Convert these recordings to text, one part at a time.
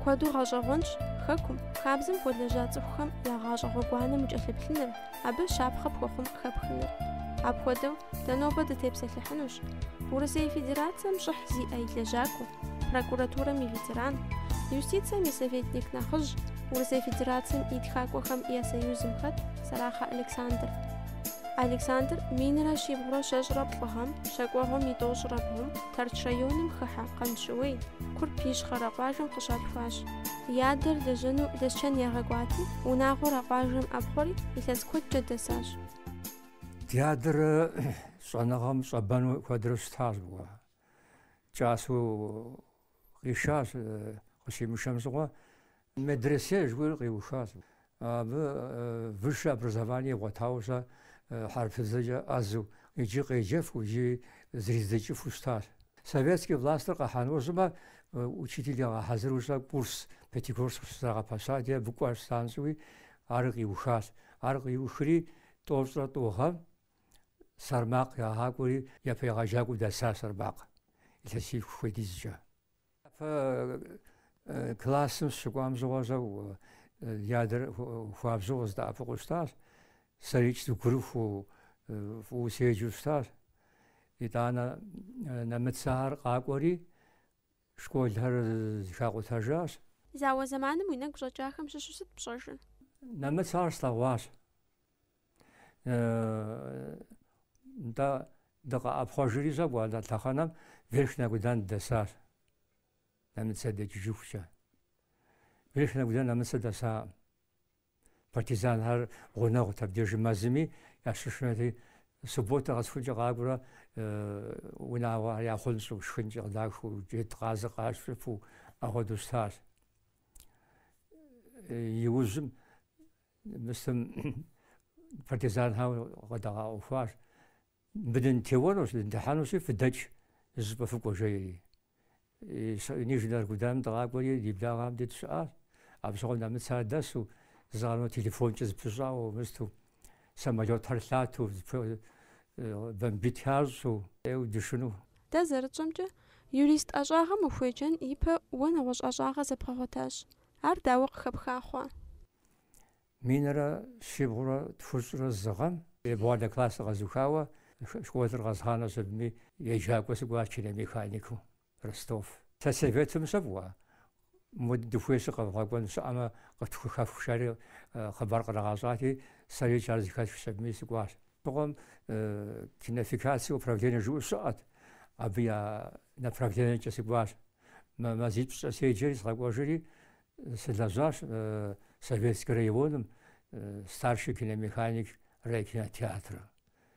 Куэду гъэщӏэгъуэнщ Хэкум, хабзэм хуэлэжьа цӏыхухэм я гъащӏэ гъуэгуанэм укӏэлъыплъыныр, абы щапхъэ пхуэхъун хэпхыныр. Апхуэдэу, дэ нобэ дытепсэлъыхьынущ Урысей Федерацэм щӏыхь зиӏэ и лэжьакӏуэ, прокуратурэм и ветеран, юстицэм и советник нэхъыжь, Урысей Федерацэм и Тхакӏуэхэм я Союзым хэт Сэрахъэ Александр. Александр минрэ щибгъурэ щэщӏрэ плӏы гъэм, щэкӏуэгъуэм и тӏощӏрэ бгъум, Тэрч районым хыхьэ Къанщыуей, Курп Ищхъэрэ къуажэм къыщалъхуащ. И адэр лэжьэну Лэсчэн ягъэкӏуати, унагъуэр а къуажэм ӏэпхъуэри, илъэс куэдкӏэ дэсащ. Ди адэр щӏэныгъэм щӏэбэну куэдрэ щытащ, гугъэ кӏасэу къишащ, къыщимышэм щыгъуэ Медресе жыхуиӏэр къиухащ. Абы высшее образование игъуэтауэ щэ хьэрыпыбзэкӏэ ӏэзу, иджы къеджэфу, иджы зэридзэкӏыфу щытащ. Советский властыр къихьа нэужьымэ учитель ягъэхьэзыру щэ курс Пятигорск щызэрагъэпэщати, абы кӏуа щытащ щӏыуи, ар къиухащ. Ар къиухри, тӏощӏрэ тӏу гъэм Сэрмакъ ягъакӏуэри, япэ егъэджакӏуэу дэсащ Сэрмакъ илъэсих хуэдизкӏэ. Япэ классым сщыкӏуам щыгъуэ щэ ди адэр хуабжьу къыздэӏэпыкъуу щытащ. Сэрикӏ сыгурыхуу фӏыуэ седжу щытащ. Итӏанэ нэмыцэхэр къакӏуэри школхэр зыхакъутэжащ. Зауэ зэманым уи нэгу щӏэкӏахэм щыщу сыт пщӏэжыр? Нэмыцэхэр слъэгъуащ. нтӏэ дыкъэӏэпхъуэжри щӏэкӏуэ а лъэхъэнэм Верхнэ Аргудан дэсар. Нэмыцэ дэкӏыжыхукӏэ. Верхнэ Аргудан нэмыцэ дэсакъым. Партизанхэр гъунэгъут абдежи мэзми ящышынэти субботэ къэсхункӏэ къакӏуэрэ унагъуэ яхъунщӏу, шхынкӏэ къыдахыу, джэдкъазыр къащыпу, апхуэдэу щытащ. Иужьым Мыстым партизанхэр къыдагъэӏуэхуащ. Мыбы дынтеуэнущ, дындыхьэнущи, фыдэкӏ, зыщӏыпӏэ фыкӏуэ, жеӏэри. Нижнэ Аргуданым дыкъакӏуэри, ди благъэм дей дыщыӏащ. Абы щыгъуэ нэмыцэхэр дэсу, зыгъэрмэ телефонкӏэ зыпыщӏауэ мысту, самолетхэр лъату, бомбить ящӏу, ӏейуэ дышыну. Дэ зэрытщӏэмкӏэ, юрист ӏэщӏагъэм ухуеджэн ипэ уэ нэгъуэщӏ ӏэщӏагъэ зэбгъэгъуэтащ. Ар дауэ къыхэпха хъуа? Минрэ щибгъурэ тхущӏрэ зы гъэм. Ебгъуанэ классыр къэзухауэ, школыр къэзгъанэщ абыми еджакӏуэ сыкӏуащ киномеханикыу, Ростов. Сельсоветым щэ, мы дыхуейщи къэвгъэкӏуэн щыӏэмэ къытхухэфх жари хъыбар кърагъэщӏати, сэрикӏ ар зыхэсхщ абыми сыкӏуащ. Абы щыгъуэм кинофикация управление жыӏэу щыӏэт, абы я направлениекӏэ сыкӏуащ. мазипщӏкӏэ седжэри сыкъэкӏуэжри, сылэжьащ Советский районым старший киномеханик райкинотеатрым.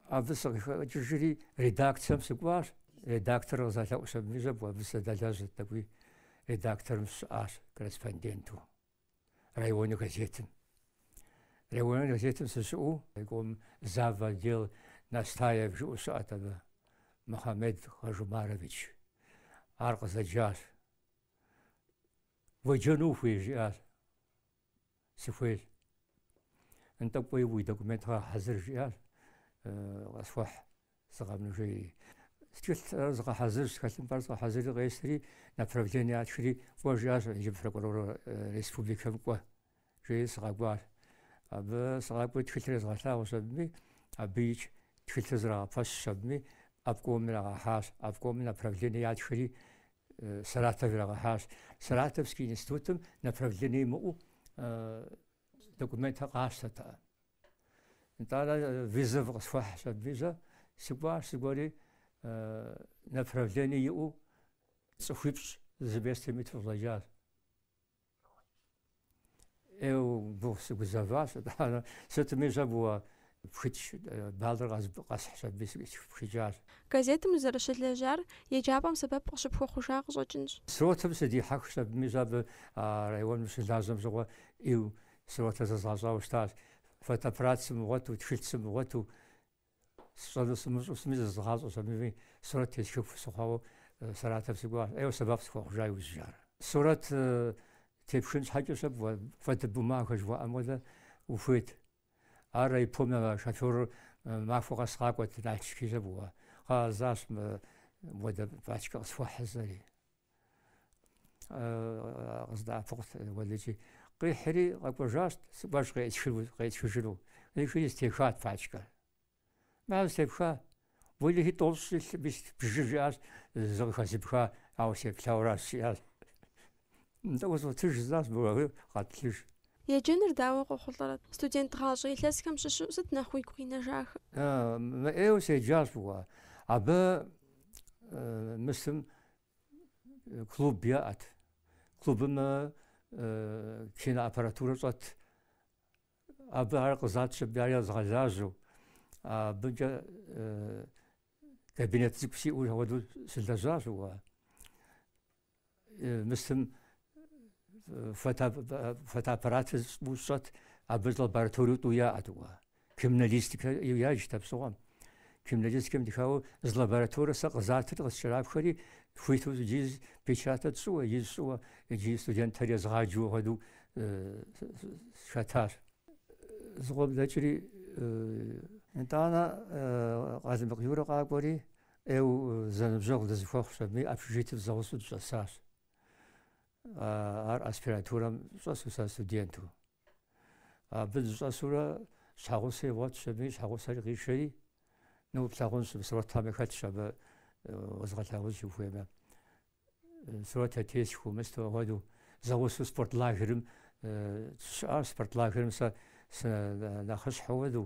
Абы сыкъыхэкӏыжри, редакцэм сыкӏуащ. Редактор къызэлъэӏущ абыми щэ, абы сыдэлэжьырт, тӏэкӏуи редакторым сыщыӏащ корреспонденту. районнэ газетым. Районнэ газетым сыщыӏэу райком зав. отдел Настаев жыӏэу щыӏэт абы, Мухьэмед Хажумарович. Ар къызэджащ. Уеджэну ухуей жиӏащ. Сыхуейщ. Нтӏэ кӏуэи уи документхэр гъэхьэзыр жиӏащ. Къысхуэхь згъэхьыну жеи. Тхылъхэр згъэхьэзырщ, тхылъымпӏэр згъэхьэзыри къесри, направление ятхри кӏуэ жиӏащ, иджы прокурор республикэм кӏуэ, жеи сыкъэкӏуащ. Абы сыкъакӏуэри тхылъыр езгъэлъагъущ абыми, абы икӏ тхылъыр зрагъэпэщщ абыми, обкомым ирагъэхьащ, обкомым направление ятхри Саратов ирагъэхьащ. Саратовский институтым направление имыӏэу документхэр къащтэртэкъым. Итӏанэ вызов къысхуахьщ абыми щэ, сыкӏуащ сыкӏуэри направление иӏэу цӏыхуипщӏ зы местэм иту къыщӏэкӏащ. Ӏейуэ гугъу сыгузэващ, итӏанэ сытми щэ мыуэ пхыкӏ баллыр къэсхьщ абыми сыпхыкӏащ. Газетым узэрыщылэжьар еджапӏэм сэбэп къыщыпхуэхъужа къыщӏэкӏынщ. Сурэтым сыдихьэхщ абыми щэ абы а районым щылажьэм щыгъуэ ӏейуэ Сурэтыр зэзгъэщӏауэ щытащ. Фотоаппарат сымыгъуэту, тхылъ сымыгъуэту, сщӏэну сымыщӏу сытми зэзгъащӏэщ абыми сурэт тесхыху сыхъуауэ Саратов сыкӏуащ. Ӏейуэ сэбэп схуэхъужа иужькӏэ ар. Сурэт тепхын щхьэкӏэ щэ фотобумагэ жыхуаӏэм хуэдэ ухуейт. Ар райпом и шофёрыр махуэ къэс къакӏуэт, Налшык щэ мыуэ. Кхъыӏэ жысӏащ мыпхуэдэ пачкэ къысхуэхь жысӏэри. къыздэӏэпыкъут уэлэхьи. Къихьри къэкӏуэжащ, сыкӏуэщ къеӏысхыжыну. Къихьри зэтехат пачкэр. Мыр щхьэ зэтепха, уэлэхьи тӏощӏ илъ, бжы жиӏащ, зы къыхэзмыха, ауэ сеплъауэращ жиӏащ. Нтӏэ узотыж жысӏащ, бгъэхи къэтлыж. Еджэныр дауэ къохъулӏэрэт? Студент гъащӏэ илъэсхэм щыщу сыт нэхъ уигу къинэжахэ? Мыӏейуэ седжащ фӏыуэ. Абы мысым э, клуб яӏэт. Клубым э, э, киноаппаратурэ щӏэт. Абы ар къызатщ аби, ар езгъэлажьэу. Абыкӏэ кабинет цӏыкӏу сиӏэу ауэдэу сылэжьащ уэ. Мысым фотоаппаратыр тӏу щӏэт, абы лабораториу тӏу яӏэт уэ. Криминалистикэ яджт апщыгъуэм. Криминалистикэм дыхауэ зы лабораторие сэ къызатыр къыскӏэрапхэри хуиту иджи печатэ тщӏыуэ, ижь щӏыуэ, иджи студентхэр езгъаджэу хуэдэу сыхэтащ. Зыкъом дэкӏри итӏанэ Къалмыкъ Юрэ къакӏуэри ӏейу зэныбжьэгъу дызэхуэхъущ, абыми общежитием зэгъусэу дыщӏэсащ. ар аспирантурэм щӏэсу сэ студенту. Абы дыщӏэсурэ щхьэгъусэ игъуэтщ абыми, щхьэгъусэри къишэри, ну плъагъунщ, сурэтхэми хэтщ абы уэзгъэлъагъунщ ухуеймэ. Сурэт тесхыу мысту хуэдэу зэгъусу спорт лагерым щыӏащ спорт лагерым сэ нэхъыщхьэу хуэдэу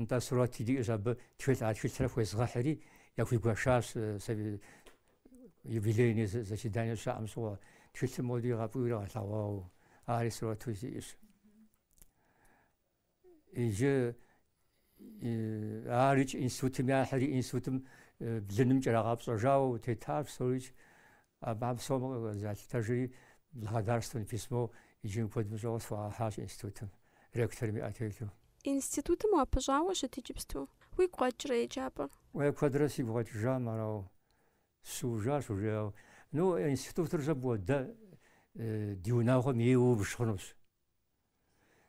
Нтӏэ, сурэти диӏэщ абы, тхылъ, а тхылъыр яхуезгъэхьри, яхуигуэшащ юбилейный заседание щаӏэм щыгъуэ, тхылъым моди игъэпӏиуэ яригъэлъэгъуауэ, ари сурэту сиӏэщ. Иджы арикӏ институтым яхьри, институтым блыным кӏэрагъэпщӏэжауэ тетащ, псори Абыхэм псоми къызалъытэжри, благодарственнэ письмо иджы куэд мыщӏауэ схуагъэхьащ институтым, ректорым и ӏэ телъу. Институтым упыщӏауэ ущыт иджыпсту? Уигу къэкӏрэ еджапӏэр? Уей, куэдрэ сигу къэкӏыжам арауэ, сщыужащ уже, ауэ, ну, институтыр щӏэ бгъуэ, дэ ди унагъуэм ейуэ ббж хъунущ.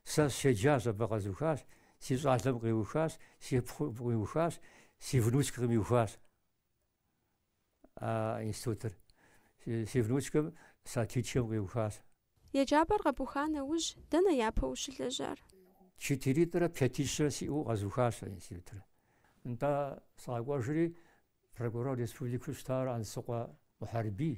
Сэ сщеджащ, абы къэзухащ, си щӏалэм къиухащ, си пхъум къиухащ, си внучкэм къиухащ. А институтыр си внучкэм Сатичкэм къиухащ. Еджапӏэр къэбуха нэужь, дэнэ япэ ущылэжьар? Четыритӏрэ пятищрэ сиӏэу къэзухащ а институтыр. Нтӏэ, сыкъэкӏуэжри, прокурор республикэу щытар Ансыкъуэ Мухьэрбий.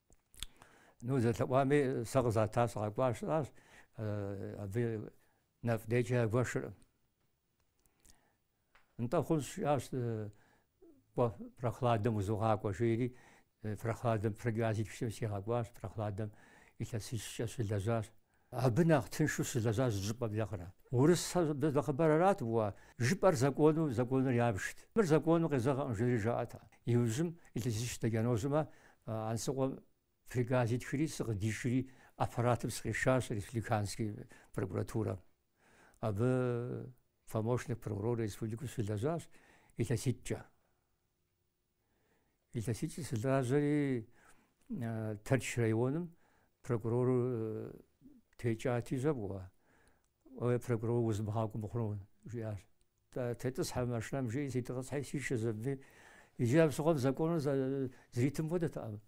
Ну зэлъэӏуами сэ къызата сыкъэкӏуащ жысӏащ, абы нэфӏ-нейкӏэ ягуэшыркъым. Нтӏэ хъунщ жиӏащ, кӏуэ, Прохладэм узогъакӏуэ жери, Прохладэм приказ итхщ аби сигъэкӏуащ, Прохладэм илъэсищкӏэ сыщылэжьащ. Абы нэхъ тыншу сыщылэжьащ зы щӏыпӏэм нэхърэ. Урыс нэхъыбэр арат уэ жыпӏэр закону, законыр ябжт. Мыр закону къезэгъэкъым жери жаӏэт. Иужьым илъэсищ дэкӏа нэужьым, Ансыкъуэм приказ итхри сыкъыдишри аппаратым сыкъишащ республиканский прокуратурэм. Абы помощник прокурор республикэу сыщылэжьащ илъэситӏкӏэ. Илъэситӏкӏэ сылажьэри Тэрч районым прокурор текӏати жьэбгъуэ. Ой, прокурор узмыгъакӏуэу мыхъуну, жиӏащ. Итӏысхьэ машинэм жиӏи ситӏысхьи сишэщ абыми. Иджы абы щыгъуэм законым зэритым хуэдэтэкъым.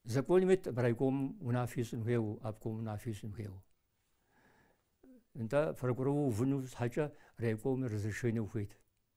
Законым ит райком унафи ищӏын хуейуэ, обком унафи ищӏын хуейуэ. Нтӏэ прокурор увыну щхьэкӏэ райком разрешение ухуейт.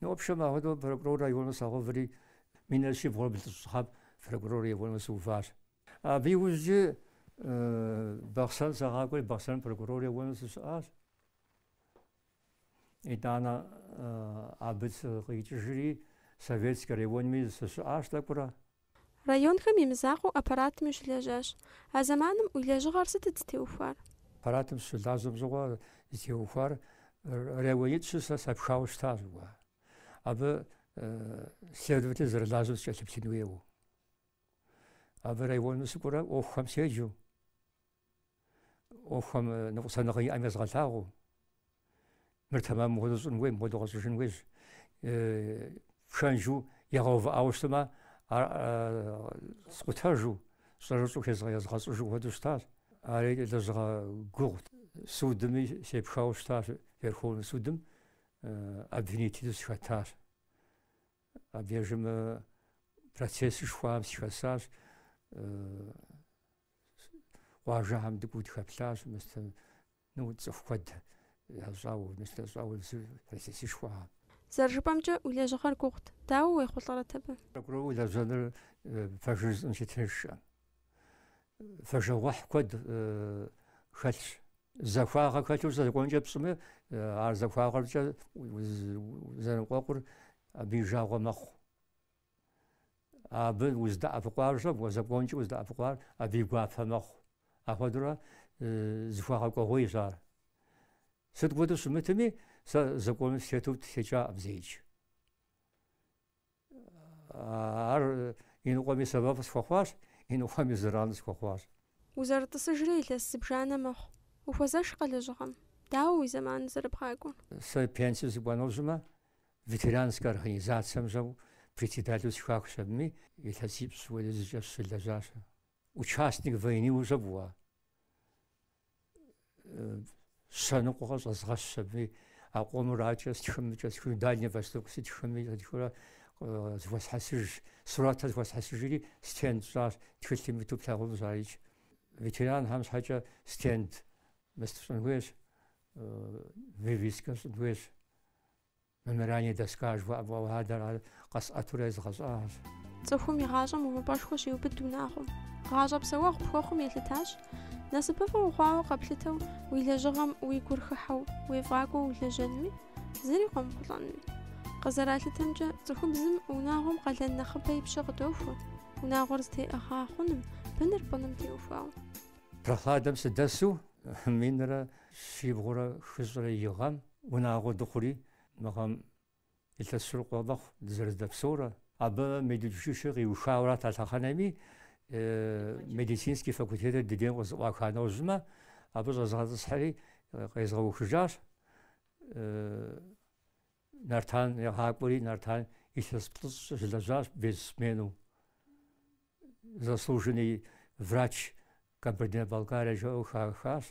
Ну, в общем, ахуэдэу прокурор району сагъэуври, минрэ щибгъурэ блыщӏ гъэм прокурор району сыуващ. Абы иужькӏи Бахъсэн сагъакӏуэри, Бахъсэным прокурор району сыщыӏащ. Итӏанэ абы сыкъикӏыжри, Советскэ районми сыщыӏащ тӏэкӏурэ. Районхэм и мызакъуэу аппаратми ущылэжьащ. А зэманым уи лэжьыгъэр сытыт зытеухуар? Аппаратым сыщылажьэм щыгъуэ зытеухуар районитӏ-щы сэ сапхауэ щытащ. Абы следователь зэрылажьэм сыкӏэлъыплъын хуейуэ. Абы районым сыкӏуэурэ ӏуэхухэм седжэу. ӏуэхухэм ныкъусаныгъэ иӏэм езгъэлъагъуу мыр тэмэмкъым мыхуэдэу щӏын хуейщ мыхуэдэу къэщӏыжын хуейщ пхэнжу ягъэувыӏауэ щытмэ ар скъутэжу щӏэрыщӏэу езгъэщӏыжу хуэдэу щытащ ари лэжьыгъэ гугъут судми сепхауэ щытащ верховный судым обвинителу сыхэтащ абдежым процессышхуэм сыхэсащ къуажэхэм дыкӏуэу дыхэплъащ, мыстэ, ну, цӏыху куэд ящӏауэ, мыстэ ящӏауэ процессышхуэ. Зэрыжыпӏэмкӏэ, уи лэжьыгъэр гугъут. Дауэ уехъулӏэрэт абы? Прокурору улэжьэныр пэжыр жысӏэнщи тыншкъым. Фэжагъуэхь куэд хэлъщ. Захуагъэ хэлъу законкӏэ пщӏымэ, ар захуагъэркӏэ узэныкъуэкъур абы и жагъуэ мэхъу. Абы уздэӏэпыкъуар щэ, уэ законкӏэ уздэӏэпыкъуар абы и гуапэ мэхъу. Ахуэдурэ зэхуэгъэкӏуэгъуейщ ар. Сыт хуэдэу щымытми, сэ законым сытету сытекӏакъым зеикӏ. Ар иныкъуэми сэбэп схуэхъуащ, иныкъуэми зэран схуэхъуащ. Узэрытӏысыжрэ илъэс зыбжанэ мэхъу. Ухуэзэшкъэ лэжьыгъэм? Дауэ уи зэманыр зэрыбгъакӏуэр? Сэ пенсие сыкӏуа нэужьым, Ветеранскэ организацэм щӏэу председателу сыхахщ абыми, илъэсипщӏ хуэдизкӏэ сыщылэжьащ. Участник войныуэ щибгъурэ щэ ныкъуэ щӏэзгъэщ абы, а къомыр адкӏэ стхым, кӏэсхыну Дальний Восток сытхыми, къытхурэ зыхуэсхьэсыжщ, сурэтыр зыхуэсхьэсыжри стенд сщӏащ, тхылъым иту плъагъунущ арикӏ. Ветеранхэм щхьэкӏэ стенд мыст щӏын хуейщ, вывескэ щӏын хуейщ. Мемориальнэ доска жыхуаӏэ хуэдэр къэсӏэтурэ езгъэщӏащ. Цӏыхум и гъащӏэм увыпӏэшхуэ щиубыд унагъуэм. Гъащӏэ псэуэгъу пхуэхъум елъытащ. Насыпыфӏэ ухъуауэ къэплъытэу уи лэжьыгъэм уи гур хыхьэу уефӏакӏуэу улэжьэнми, зыри къомыхъулӏэнми. Къызэралъытэмкӏэ, цӏыхубзым унагъуэм къалэн нэхъыбэ и пщэ къыдохуэ, унагъуэр зытеӏыгъа хъуным, быныр пӏыным теухуауэ. Прохладнэм сыдэсу минрэ щибгъурэ хыщӏрэ и гъэм Унагъуэ дыхъури, мы гъэм илъэс хыщӏ ирикъуу мэхъу дызэрыздэпсэурэ. Абы медучилищыр къиухауэрат а лъэхъэнэми, медицинский факультетыр ди дейм къызэӏуаха нэужьмэ, абы щӏэзыгъэтӏысхьэри къезгъэухыжащ, Нартан ягъакӏуэри, Нартан илъэс плӏыщӏкӏэ щылэжьащ без сменэу. заслуженный врач Кабардино-Балкарии жаӏэу хахащ.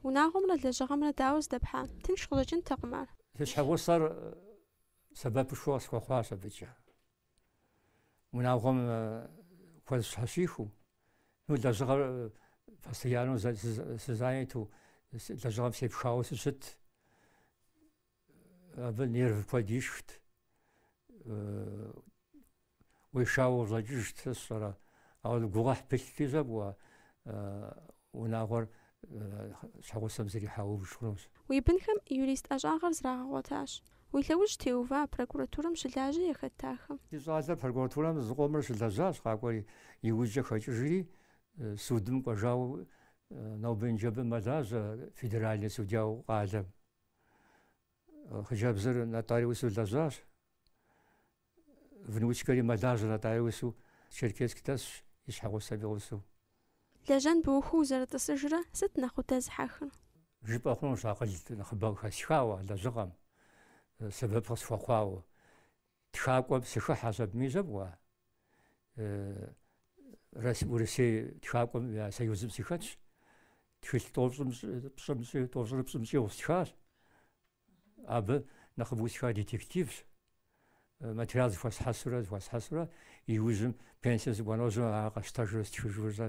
Унагъуэмрэ лэжьыгъэмрэ дауэ здэпхьа? Тынш къыщӏэкӏынтэкъым ар. Си щхьэгъусэр сэбэпышхуэ къысхуэхъуащ абыкӏэ. Унагъуэм куэд щхьэщихыу, ну, лэжьыгъэр постоянно сызаняту, лэжьыгъэм сепхауэ сыщыт. Абы нерв куэд ишхт. Уешауэ ущӏэкӏыжт, сэ сщӏэрэ. Ауэ гугъуехь пылъти щӏэкӏуэ унагъуэр щхьэгъусэм зэрихьэу убж хъунущ. Уи бынхэм юрист ӏэщӏагъэр зрагъэгъуэтащ. Уи лъэужь теува прокуратурэм щылажьэ яхэт ахэм? Ди щӏалэр прокуратурэм зыкъомрэ щылэжьащ, къакӏуэри иужькӏэ хэкӏыжри, судым кӏуэжауэ нобэ-ныджэбэ мэлажьэ федеральный судьяу къалэм. хъыджэбзыр нотариусу лэжьащ. Внучкэри мэлажьэ нотариусу Черкесск дэсщ и щхьэгъусэм и гъусэу. Лэжьэн быухыу узэрытӏысыжрэ сыт нэхъ удэзыхьэхыр? Жыпӏэ хъунущ акъыл нэхъыбэ хэсхауэ лэжьыгъэм, сэбэп къысхуэхъуауэ. Тхакӏуэм сыхыхьащ абы, мис жьэфӏ уэ? Урысей тхакӏуэм я союзым сыхэтщ, тхылъ тӏощӏрэ пщӏым щӏигъу стхащ. Абы нэхъыбэу стхар детективщ. Материал зыхуэсхьэсурэ, зыхуэсхьэсурэ, иужьым пенсием сыкӏуа нэужьым ар къэсщтэжурэ, стхыжурэ щӏэ,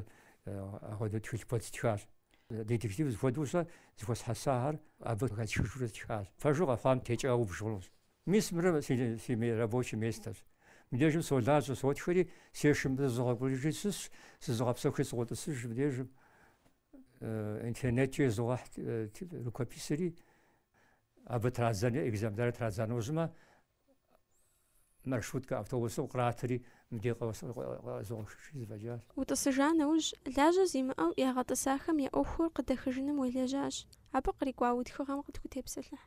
ахуэдэу тхылъ куэд стхащ. Детектив зыхуэдэу щӏэ зыхуэсхьэсахэр абы къыхэсхыжурэ стхащ. Пэжу къэхъуам текӏауэ убж хъунущ. Мис мыр си рабочий местэрщ. Мыбдежым солажьэ, сотхэри, сешым зызогъэукӏуриежри сысщ, зызогъэпсэхури сыкъотӏысыж мыбдежым. Интернеткӏэ езогъэхь рукописри, абы традзэри, экземплярыр традза нэужьымэ, маршруткэ, автобусым къратри, мыбдеж къызогъэхьыжри зэфӏэкӏащ. Утӏысыжа нэужь, лажьэ зимыӏэу ягъэтӏысахэм я ӏуэхур къыдэхыжыным уелэжьащ, абы кърикӏуа уи тхыгъэм къытхутепсэлъыхь.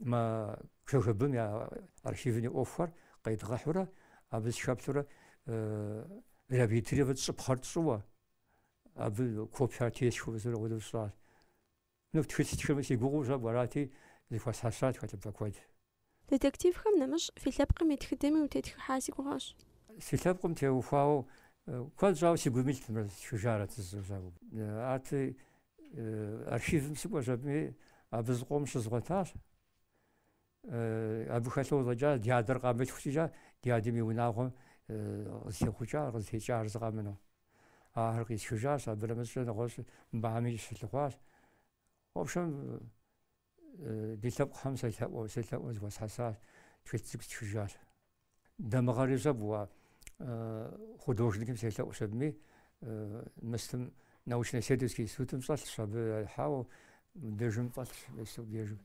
Мы КГБ-м я архивым и ӏуэхухэр къедгъэхьурэ, абы сыхэплъурэ реабилитировать тщӏыпхъэр тщӏыуэ, абы копиер тесхыу зэрыгъуэдэу сщӏащ. Ну, тхылъ тхынми сегугъуу щӏэ арати, зыхуэсхьэсат тхылъымпӏэ куэд. Детективхэм нэмыщӏ, фи лъэпкъым и тхыдэми утетхыхьа си гугъэщ. Си лъэпкъым теухуауэ куэд щӏауэ си гум илът мыр стхыжарэт зэ жысӏэу. Арти, Архивым сыкӏуэщ абыми, абы зыкъом щызгъуэтащ. Абы хэлъу щӏэкӏа ди адэр къамылъху щӏыкӏэ, ди адэм и унагъуэм къызытехъукӏа, къызытекӏахэр зы къэмынэу. Ахэр къисхыжащ, абы нэмыщӏкӏэ нэгъуэщӏыпӏэми сыщылъыхъуащ. В общем, Ди лъэпкъхэм селъэӏуэу, селъэӏуэу зыхуэсхьэсащ, тхылъ цӏыкӏу стхыжащ. Дамыгъэри щӏэбгъуа художникым селъэӏущ абыми, мыстым научно-исследовательский институтым щӏэлъщ, абы яхьауэ дежым фӏэлъщ, Весук Ежик.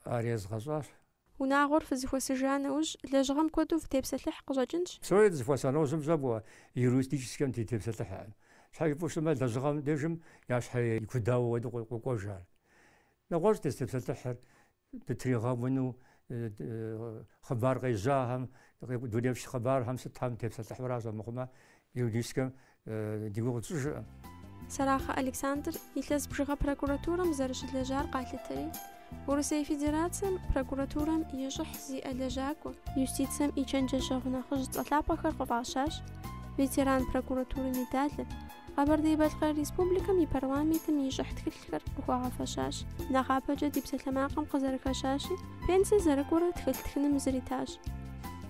Ар езгъэщӏащ, Унагъуэр фызыхуэсыжа нэужь, лэжьыгъэм куэду фытепсэлъыхь къыщӏэкӏынщ. Псори дызыхуэса нэужьым щӏагъуэ юридическэм дытепсэлъыхьыркъым. Щхьэ жыпӏэу щытмэ, лэжьыгъэм дежым я щхьэ икудауэ уэду къокӏуэжхэр. Нэгъуэщӏ дызытепсэлъыхьыр дытригъэуну хъыбар къежьахэм, дунейм щыхъыбархэм сытхэм дытепсэлъыхьу аращ, армыхъумэ юридическэм Ди гугъу тщӏыжыркъым. Сэрахъэ Александр илъэс бжыгъэ прокуратурэм зэрыщылэжьар къалъытэри, Урысей Федерацэм прокуратурэм и щӏыхь зиӏэ лэжьакӏуэ, юстицэм и чэнджэщэгъу нэхъыжь цӏэ лъапӏэхэр къыфӏащащ ветеран прокуратуры медалыр, Къэбэрдей-Балъкъэр Республикэм и парламентым и щӏыхь тхылъ тхылъхэр къыхуагъэфэщащ. Нэхъапэкӏэ ди псалъэмакъым къызэрыхэщащи, пенсэ зэрыкӏуэрэ тхылъ тхыным зритащ.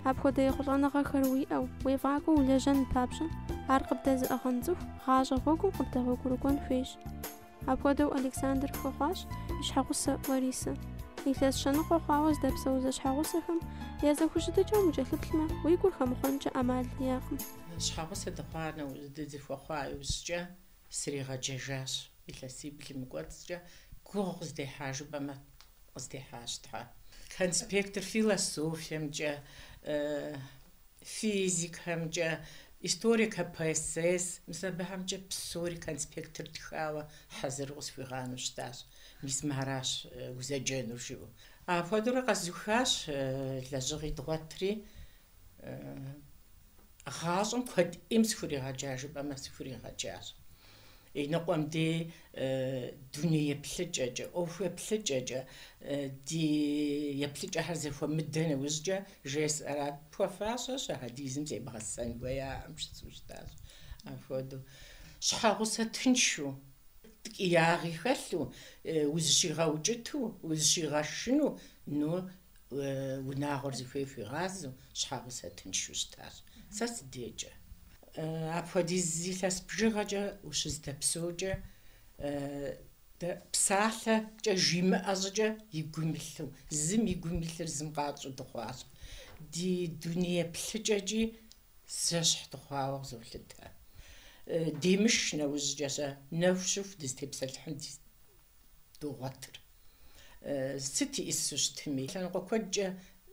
Апхуэдэ ехъулӏэныгъэхэр уиӏэу, уефӏакӏуэу улэжьэн папщӏэ, ар къыбдэзыӏыгъэн цӏыху гъащӏэ гъуэгум къыбдэгъуэгурыкӏуэн хуейщ. Апхуэдэу Александр хуэхъуащ и щхьэгъусэ Ларисэ. Илъэс щэныкъуэ хъуауэ здэпсэу зэщхьэгъусэхэм я зэхущытыкӏэм укӏэлъыплъмэ, уи гур хэмыхъуэнкӏэ ӏэмал иӏэкъым. Щхьэгъусэ дыхъуа нэужь дызыхуэхъуа иужькӏэ, Сригъэджэжащ илъэсиблым и кӏуэцӏкӏэ, гугъу къыздехьа жыпӏэмэ, къыздехьащ Тхьэ. Конспектыр философиемкӏэ, физикэмкӏэ, история КПСС, мис абыхэмкӏэ псори конспектыр тхауэ хьэзыру къысхуигъанэу щытащ, мис мыращ узэджэнур жиӏэу. Апхуэдэурэ къэзухащ лэжьыгъи дгъуэтри. Гъащӏэм куэд ӏейм сыхуригъэджа жыпӏэмэ, сыхуригъэджащ. Иныкъуэм ди дуней еплъыкӏэкӏэ, ӏуэху еплъыкӏэкӏэ, ди еплъыкӏэхэр зэхуэмыдэ нэужькӏэ жесӏэрат. Пхуэфащэщ, ахьэдизым зебгъэсэн хуеяӏэм жысӏэу щытащ. Апхуэдэу щхьэгъусэ тыншу, ткӏиягъи хэлъу, узыщигъэукӏыту, узыщигъэшыну, ну, Унагъуэр зыхуей хуигъазэу щхьэгъусэ тыншу щытащ. Сэ си декӏэ. Апхуэдиз илъэс бжыгъэкӏэ ущыздэпсэукӏэ, дэ псалъэкӏэ жимыӏэ щӏыкӏэ и гум илъу, зым и гум илъыр зым къэтщӏэу дыхъуащ. Ди дуней еплъыкӏэкӏи зэщхь дыхъуауэ къызолъытэ. Демыш нэужькӏэ-щэ нэху щыху дызытепсэлъыхьын ди догъуэтыр. Сыт ищӏысу щытми, лъэныкъуэ куэдкӏэ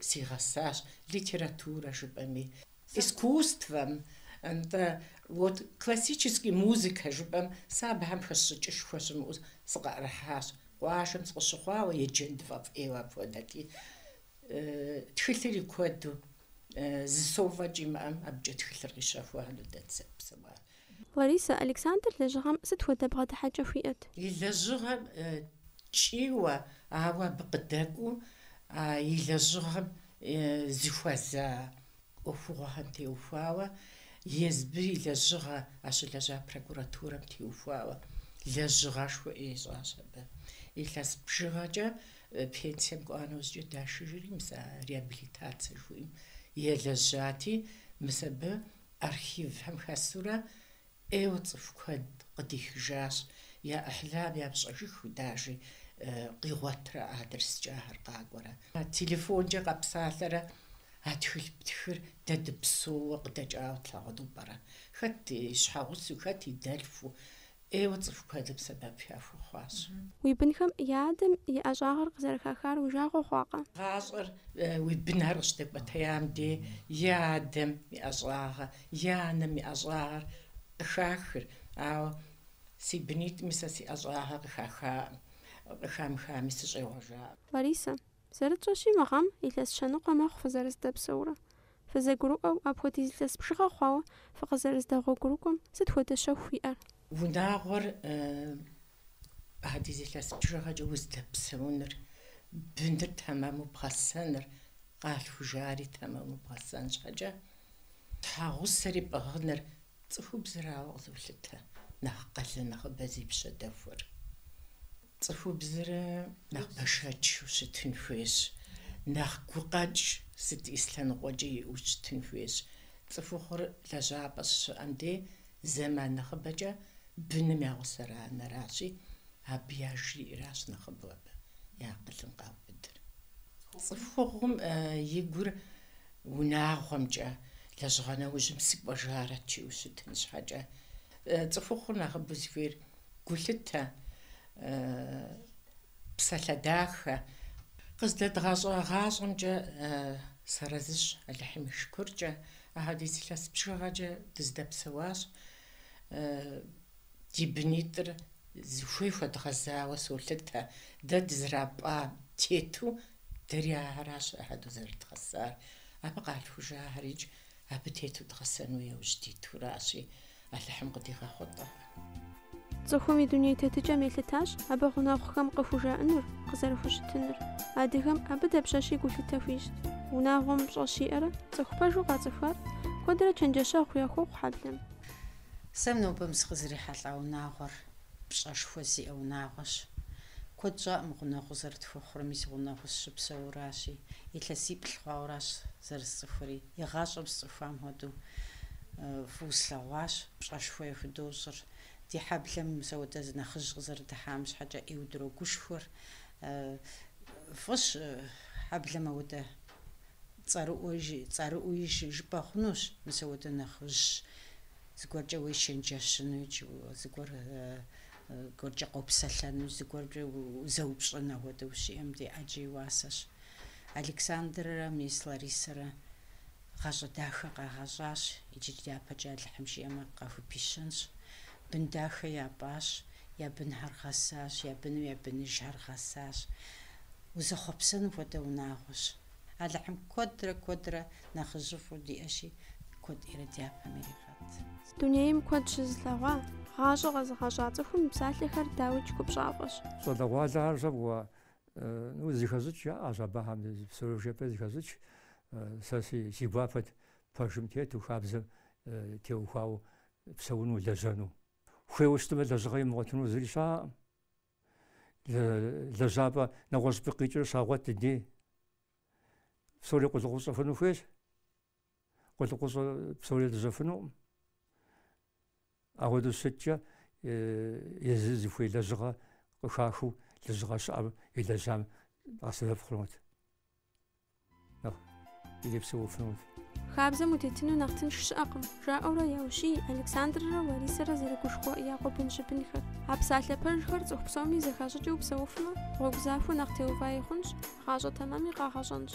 сигъэсащ, литературэ жыпӏэми, искусствэм, нтӏэ, вот классический музыкэ жыпӏэм, сэ абыхэм хэсщӏыкӏышхуэ щымыӏэу сыкъыӏэрыхьащ. Къуажэм сыкъыщыхъуауэ еджэн тфӏэфӏ ӏейуэ апхуэдэти, тхылъри куэду, зы сом фӏэкӏ имыӏэм, абыкӏэ тхылъыр къищэхуа, ну, дэ дызэрыпсэуар. Ларисэ, Александр лэжьыгъэм сыт хуэдэ бгъэдыхьэкӏэ хуиӏэт? И лэжьыгъэм ткӏийуэ, ауэ абы къыдэкӏуэу а и лэжьыгъэм зыхуэза ӏуэхугъуэхэм теухуауэ, езбыр и лэжьыгъэ а щылэжьа прокуратурэм теухуауэ лэжьыгъэшхуэ ищӏащ абы. Илъэс бжыгъэкӏэ пенсием кӏуа нэужькӏэ дашыжри, мис а реабилитацэ жыхуиӏэм елэжьати, мис абы Архивхэм хэсурэ ӏейуэ цӏыху куэд къыдихыжащ, я ӏыхьлам япщӏэжыху дажи къигъуэтрэ адрескӏэ ахэр къакӏуэрэ. Телефонкӏэ къэпсалъэрэ а тхылъ птхыр дэ дыпсэууэ къыдэкӏауэ тлъагъуну пӏэрэ? Хэт и щхьэгъусэу, хэт и дэлъхуу ӏейуэ цӏыху куэдым сэбэп яхуэхъуащ. Уи бынхэм я адэм и ӏэщӏагъэр къызэрыхахар уи жагъуэ хъуакъэ? Гъащӏэр уи бынхэр къыщыдэкӏуэтеям де и адэм и ӏэщӏагъэ, и анэм и ӏэщӏагъэр къыхахыр, ауэ си бынитӏми сэ си ӏэщӏагъэ къыхахаӏым, къыхамыхами сыщӏегъуэжаӏым. Ларисэ. Зэрытщӏэщи, мы гъэм илъэс щэныкъуэ мэхъу фызэрыздэпсэурэ. Фызэгурыӏуэу, апхуэдиз илъэс бжыгъэ хъуауэ фыкъызэрыздэгъуэгурыкӏуэм сыт хуэдэ щэху уиӏэр? Унагъуэр апхуэдиз илъэс бжыгъэкӏэ уздэпсэуныр, быныр тэмэму бгъэсэныр, къалъхужари тэмэму бгъэсэн щхьэкӏэ, щхьэгъусэри пӏыгъыныр цӏыхубзрауэ къызолъытэ нэхъ къалэн нэхъыбэ зи пщэ дэхуэр. Цӏыхубзыр нэхъ бэшэчу щытын хуейщ, нэхъ гукъэкӏ сыт и лъэныкъуэкӏи иӏэу щытын хуейщ. Цӏыхухъур лэжьапӏэ щыщыӏэм де зэман нэхъыбэкӏэ быным я гъусэр анэращи, абы яжриӏэращ нэхъыбэу абы и акъылым къаубыдыр. Цӏыхухъум и гур унагъуэмкӏэ, лэжьыгъэ нэужьым сыкӏуэжарэт жиӏэу щытын щхьэкӏэ. Цӏыхухъур нэхъыбэу зыхуейр Гулъытэ, псалъэ дахэ. Къыздэдгъэщӏа гъащӏэмкӏэ сарэзыщ, Алыхьым и шыкуркӏэ, ахьэдиз илъэс бжыгъэкӏэ дыздэпсэуащ. Ди бынитӏыр зыхуей хуэдгъэзауэ солъытэ, дэ дызэрапӏам тету, дэри ахэращ ахьэду зэрыдгъэсар. Абы къалъхужахэрикӏ Абы тету дгъэсэну яужь дитуращи, Алыхьым къыдигъэхъулӏэ. Цӏыхум и дуней тетыкӏэм елъытащ абы гъунэгъухэм къыхужаӏэнур, къызэрыхущытынур. Адыгэм абы дапщэщи гулъытэ хуищӏт. Унагъуэм пщӏэ щиӏэрэ цӏыху пэжу къацӏыхуар куэдрэ чэнджэщэгъу яхуохъу хьэблэм. Сэ нобэм сыкъызэрихьэлӏа унагъуэр Пщӏэшхуэ зиӏэ унагъуэщ. Куэд щӏакъым гъунэгъуу зэрытхуэхъур, мис гъунэгъуу сыщыпсэуращи, илъэсиплӏ хъуауэращ зэрысцӏыхури. Игъащӏэм сцӏыхуам хуэдэу фӏыуэ слъэгъуащ, пщӏэшхуэ яхудощӏыр. Ди хьэблэм мис ауэдэ зы нэхъыжь къызэрыдыхьам щхьэкӏэ ӏейуэ дрогушхуэр. Фӏыщ, хьэблэм ауэдэ цӏэрыӏуи жыпӏэ хъунущ, мис ауэдэ нэхъыжь. Зыгуэркӏэ уечэнджэщыну икӏи зыгуэр гуэркӏэ къопсэлъэну, зыгуэркӏэ узэупщӏын ахуэдэ ущиӏэм де ӏэджэ и уасэщ. Александррэ мис Ларисэрэ гъащӏэ дахэ къагъэщӏащ, иджы дяпэкӏэ Алыхьым жиӏэмэ къахупищэнщ. Бын дахэ япӏащ, я бынхэр гъэсащ, я быным я быныжхэр гъэсащ. Узэхъуэпсэну хуэдэ унагъуэщ. Алыхьым куэдрэ куэдрэ нэхъыжьыфӏу диӏэщи, куэдрэ дяпэм иригъэт. Дунейм куэд щызылъэгъуа, гъащӏэ къэзыгъэщӏа цӏыхум псалъэхэр дауикӏ гупщӏафӏэщ. Щӏалэгъуалэхэр щӏэбгъуэ, ну, зыхэщӏыкӏ яӏэщ абыхэм, псори жепӏэ зыхэщӏыкӏ. Сэ си си гуапэт пэжым тету, хабзэм теухуауэ псэуну, лэжьэну. Хуейуэ щытмэ, лэжьыгъэ имыгъуэтыну зыри щыӏэкъым. лэжьапӏэ нэгъуэщӏыпӏэ къикӏыр щагъуэт ди де. Псори къулыкъущӏэ хъуну хуейщ. Къулыкъущӏэ псори лэжьэфынукъым. Ауэдэу щыткӏэ езы зыхуей лэжьыгъэ къыхахыу лэжьыгъэ щыӏэм елэжьам къэсэбэп хъунут. ирепсэуфынущ. Хабзэм утетыну нэхъ тынш щыӏэкъым, жаӏэурэ яущий Александррэ Ларисэрэ зэрыгушхуэ я къуэбын-щыбынхэр. А псалъэ пэжхэр цӏыху псоми зэхащӏыкӏыу псэуфмэ, гъуэгу захуэ нэхъ теуваи хъунщ, гъащӏэ тэмэми къагъэщӏэнщ.